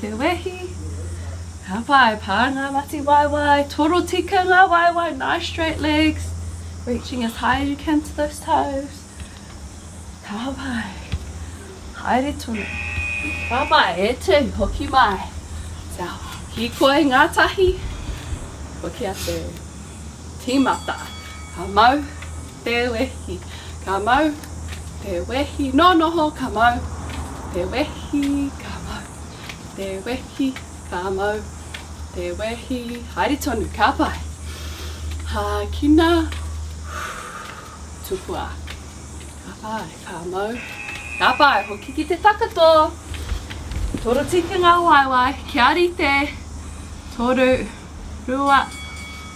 Te wehi, ka pae pa nga mati waewae, torotika nga waewae, nice straight legs, reaching as high as you can to those toes, ka pae, haere tonu, ka pae, e tu, hoki mai, kia hikoi ngatahi, hoki atu, timata, ka mau, Te wehi, ka mau, te wehi, nō noho, ka mau, te wehi, ka mau, te wehi, ka mau, te wehi, haere tonu, ka pai. Hākina, tupua, ka pai, ka mau, ka pai, hoki ki te takato. Toru tikinga waewae, kia rite, toru, rua,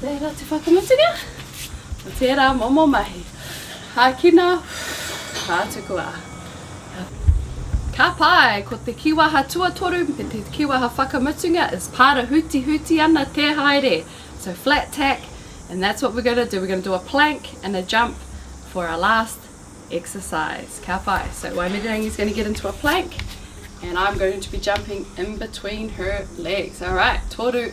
Tērā te whakamutunga o tērā momo mahi. Hākina, hātukua. Ka pai, ko te kīwaha tuatoru me te kīwaha whakamutunga is pāra hutihuti ana te haere. So flat tack and that's what we're going to do, we're going to do a plank and a jump for our last exercise. Ka pai, so Waimirirangi's going to get into a plank and I'm going to be jumping in between her legs. Alright, toru.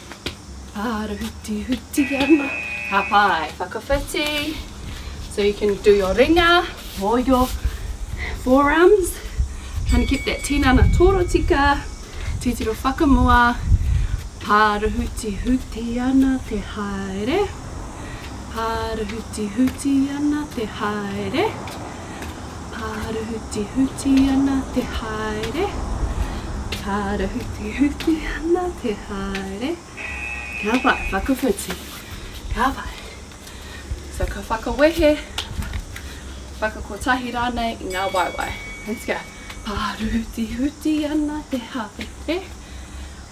Ara huti huti ana. Ka pai, whakawhiti. So you can do your ringa or your forearms. Trying to keep that tinana torotika, titiro whakamua. Ara huti huti ana te haere. Ara huti huti ana te haere. Āhurutihuti ana te haere, ārahutihuti ana te haere. Ka pai, whakawhiti, ka pai. So ka whakawehe, whakakotahi rānei i ngā waewae. Let's go. Ārahutihuti ana te haere.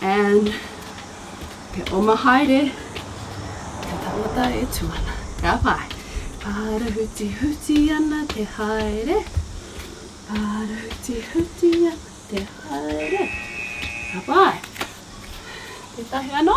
and te oma haere te tangata e tu ana ka pai parahuti huti ana te haere parahuti huti ana te haere ka pai te tahi ano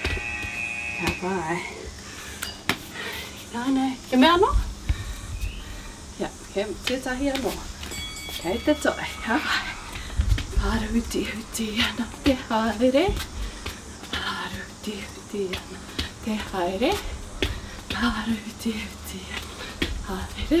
Kia pai. Ānei, he mea anō? Ia, he tētahi anō. Kei te toe, kia pai. Ārutihuti ana te haere, ārutihuti ana te haere, ārutihuti ana te haere.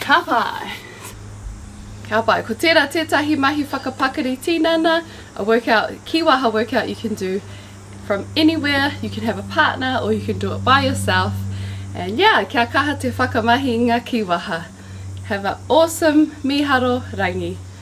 Ka pai! Ka pai, ko tērā tētahi mahi whakapakari tinana, a workout, kīwaha workout you can do from anywhere, you can have a partner or you can do it by yourself and yeah, kia kaha te whakamahi i ngā kīwaha. Have a awesome mīharo rangi.